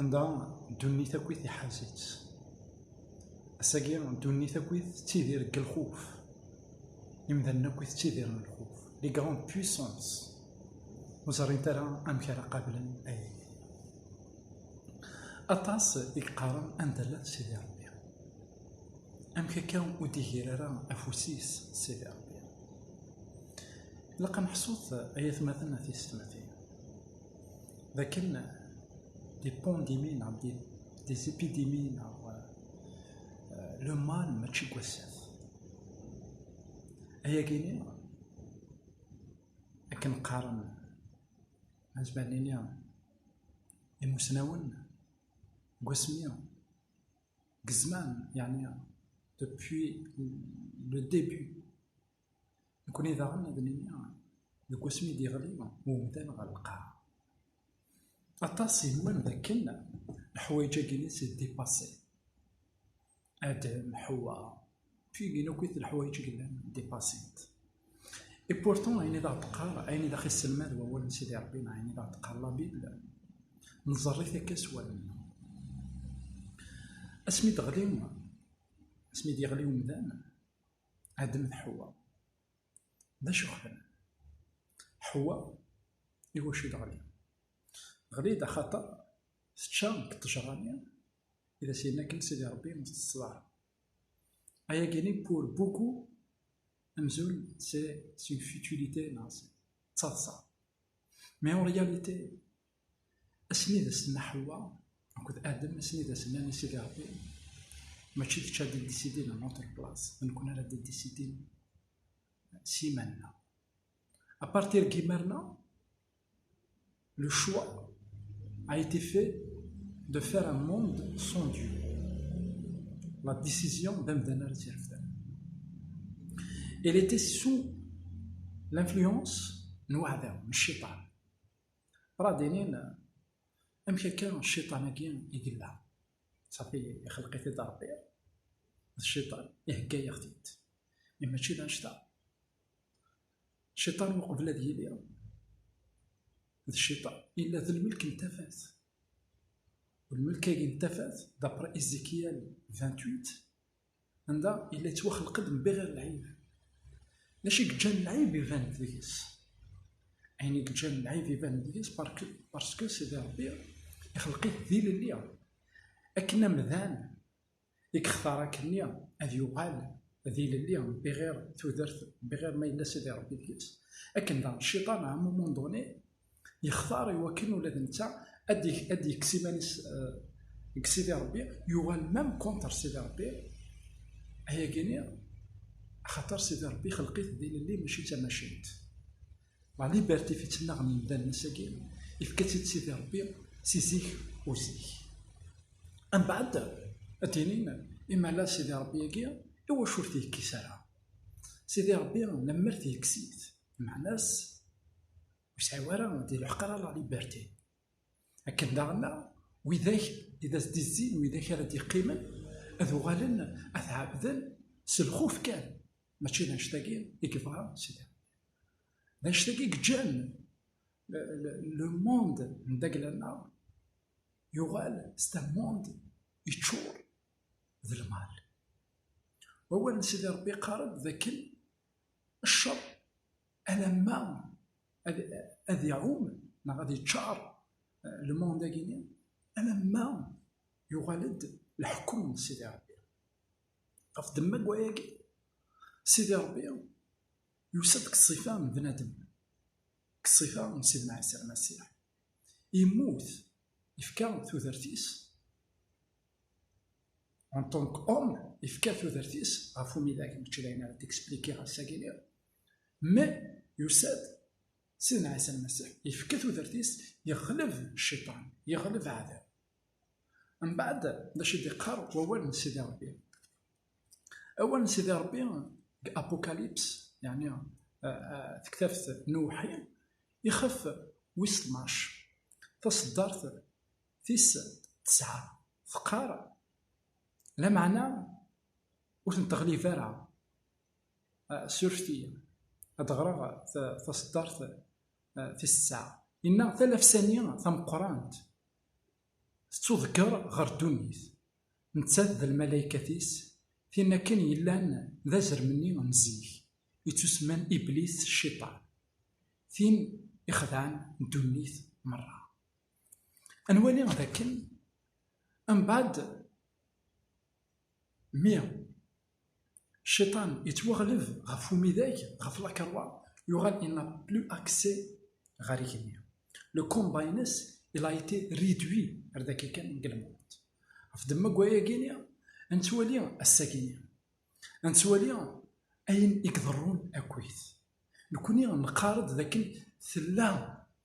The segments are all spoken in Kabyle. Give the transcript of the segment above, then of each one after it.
Anda ddunit akkit iḥaz-itt. Ass-agi ddunit akkit tettidir deg lxuf. Imdanen akkit ttidiren lxuf. Les grandes puissances ur ẓrint ara amek ara qablen aya. Aṭas i yeqqaren anda llan Sidi Rebbi. Amek akka ur d-igir ara afus-is Sidi Rebbi. Ilaq ad neḥsut ay atmaten a tisetmatin. d akken di ṭṭundimin neɣ di ṭṭizipidimin neɣ luman mačči deg wassat ayagi-nni akken qqaren azmal nini imusnawen deg wasmi deg zzman yeɛni depuis le début Nekkni daɣen ad nini deg wasmi i d-yeɣli umdan ɣer lqaɛa, aṭas yennwan d akken leḥwayeǧ-agi n s-d-dipassi, Adem, Ḥewwa, tigin akk it leḥwayeǧ i yellan dipassi-t. Et pourtant, ayen i d aɣ-d-teqqar, ayen i d aɣ-isselmad wawal n Sidi Ṛebbi neɣ ayen i d aɣ-d-teqqar la Bible, nẓerr-it akka s wallen-nneɣ. Asmi d-ɣli, asmi d-yeɣli umdan, Adam d Ḥewwa, d acu xedmen? Ḥewwa, iwacu i d-ɣli? Ɣli-d axaṭer tečča n ṭṭejṛa-nni i d as-yenna akken Sidi Ṛebbi ur ttetteḍ ara. Ayagi-nni pour beaucoup amzun c'est une futilité neɣ d taḍsa. Mais en réalité, Asmi d as-tenna Ḥewwa akked Adem, asmi d as-nnan i Sidi Ṛebbi, mačči kečč ad d-iddisidin a notre place, d nekkni ara d-iddisidin s yiman-nneɣ. A partir n yimir-nna, le choix a été fait de faire un monde sans Dieu. La décision d amdan ara tt-irefden. Elle était sous l'influence n uɛdaw, n cciṭan. Radinin, amek akka cciṭan-agi i yella? Safi ixelq-it-id Ṛebbi, d cciṭan, ihegga-yaɣ-t-id. Mi mačči d anect-a, cciṭan uqbel ad yili, d cciṭan, yella d lmelk n tafat. Lmelk-agi n tafat, d'après Ézéchiel 28, anda yella yettwaxelq-d mbiɣir lɛib d acu i yeǧǧan lɛib iban deg-s ayen i yeǧǧan lɛib iban deg-s barske sidi rebbi ixelq-it d ilelli akken amdan i yextar akkenni ad yuɣal d ilelli mbiɣir tudert mbiɣir ma yella sidi rebbi deg-s akken daɣ cciṭan ɛamumunduni yextar i wakken ula d netta ad yekkes iman-is deg Sidi Ṛebbi, yuɣal mem konṭer Sidi Ṛebbi, ayagi-nni axaṭer Sidi Ṛebbi ixelq-it d ilelli mačči d tamacint. La liberté fi tt-nnaɣen yimdanen ass-agi, ifka-tt-id Sidi Ṛebbi si zik u zik. Ambaɛd ad d-inin imala Sidi Ṛebbi-agi iwacu ur t-yekkis ara? Sidi Ṛebbi lemmer t-yekkes-it, Meɛna-s ur sɛiw ara di lḥeq ara la liberté. Akken daɣen widak i d as-d-izzin widak ara d-yeqqimen ad uɣalen ad t-ɛebden s lxuf kan, mačči d annect-agi i yebɣa Sidi Rebbi. D annect-agi i yeǧǧan le monde n Dagla-nneɣ yuɣal s d monde yeččur d lmal. Wawal n Sidi Rebbi yeqqar-d d akken cceṛ alamma ad iɛum neɣ ad iččaṛ lmund-agi-nni, alamma yuɣal-d leḥkum n Sidi Ṛebbi. Ɣef ddemma n wayagi, Sidi Ṛebbi yusa-d deg ṣṣifa n bnadem, deg ṣṣifa n Sidna Ɛisa Lmasiḥ. Yemmut, yefka tudert-is. En tant qu'homme, yefka tudert-is ɣef umidag, mačči d ayen ara d-expliquer ass-agi-nni, mais yusa-d Sidna Ɛisa Lmasiḥ, yefka tudert-is, yeɣleb cciṭan, yeɣleb aɛdaw. Mbeɛd, d acu i d-iqqar wawal n Sidi Ṛebbi? Awal n Sidi Ṛebbi deg Apocalypse, yeɛni tektabt n uwḥi, ixef wis tnac, taṣeddart tis tesɛa. teqqar lameɛna ur ten-teɣlib ara ah, surfti ad ɣreɣ taseddart ah, tis tesɛa inna talafsani tameqqrant tettuḍegger ɣer ddunit nettat d lmalaykat-is tin akken yellan d azrem-nni n zik yettusemman iblis cciṭan tin ixedɛen ddunit merra Ad nwali d akken mbaɛd mi cciṭan yettwaɣleb ɣef umidag, ɣef lakeṛwa, yuɣal il n'a plus accès ɣer igenni. Le combat-ines il a été réduit ar d akka kan deg lmend. Ɣef ddemma n wayagi-nni, ad nettwali assag-nni, ad nettwali ayen i iḍerrun akkit. Nekkni neqqar-d d akken tella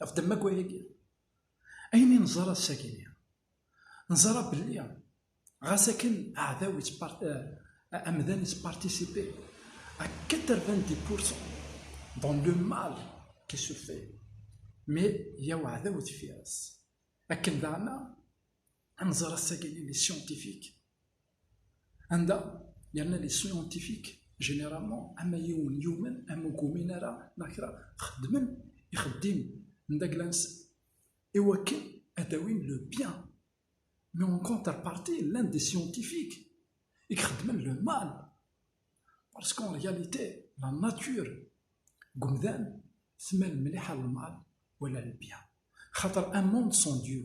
ɣef ddemma n wayagi, ayen i nẓerr ass-agi-nni, neẓra belli ɣas akken aɛdaw amdan yettpartisipi à 90 pourcent dans le mal qui se fait mais yya uɛdaw deffir-s akken daɣen ad nẓer ass-agi les scientifiques anda yerna les scientifiques généralement ama yiwen yumen ama ur yumin ara neɣ kra xeddmen ixeddim n dagla-nsen iwakken ad awin le bien mais en contrepartie llan des scientifiques i ixeddmen le mal parce qu'en réalité la nature deg umdan tmal mliḥ a lmal wala le bien xaṭer un monde sans Dieu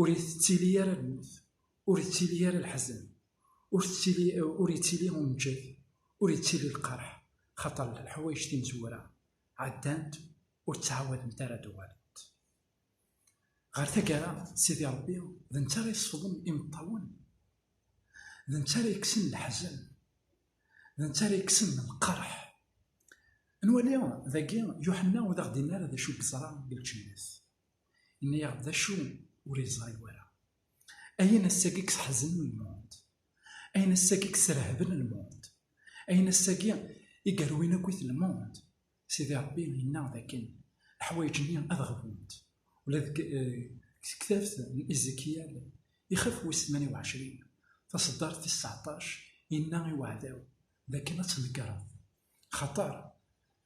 ur itettili ara lmut, ur ittili ara leḥzen, ur tettili, ur ittili umǧed, ur ittili lqerḥ, xaṭer leḥwayeǧ timezwura ɛeddant ur ttɛawadent ara ad uɣalent. Ɣer taggara, Sidi Ṛebbi d netta ara yesfḍen imeṭṭawen, d netta ara yekksen leḥzen, d netta ara yekksen lqerḥ. Nwali dagi Yuḥenna ur d aɣ-d-inni ara d acu i yeẓra deg lǧennet. Yenna-yaɣ d acu ur yeẓri wara. Ayen ass-agi yesseḥzen lmond, ayen ass-agi yesrehben lmond, ayen ass-agi i yerwin akkit lmond, Sidi Ṛebbi yenna dakken leḥwayeǧ-nni ad ɣbunt. Ula deg tektabt n Izikyal, ixef wis tmanya u ɛecrin, taṣeddart tis tseɛṭac, yenna i uɛdaw dakken ad tnegreḍ, xaṭer,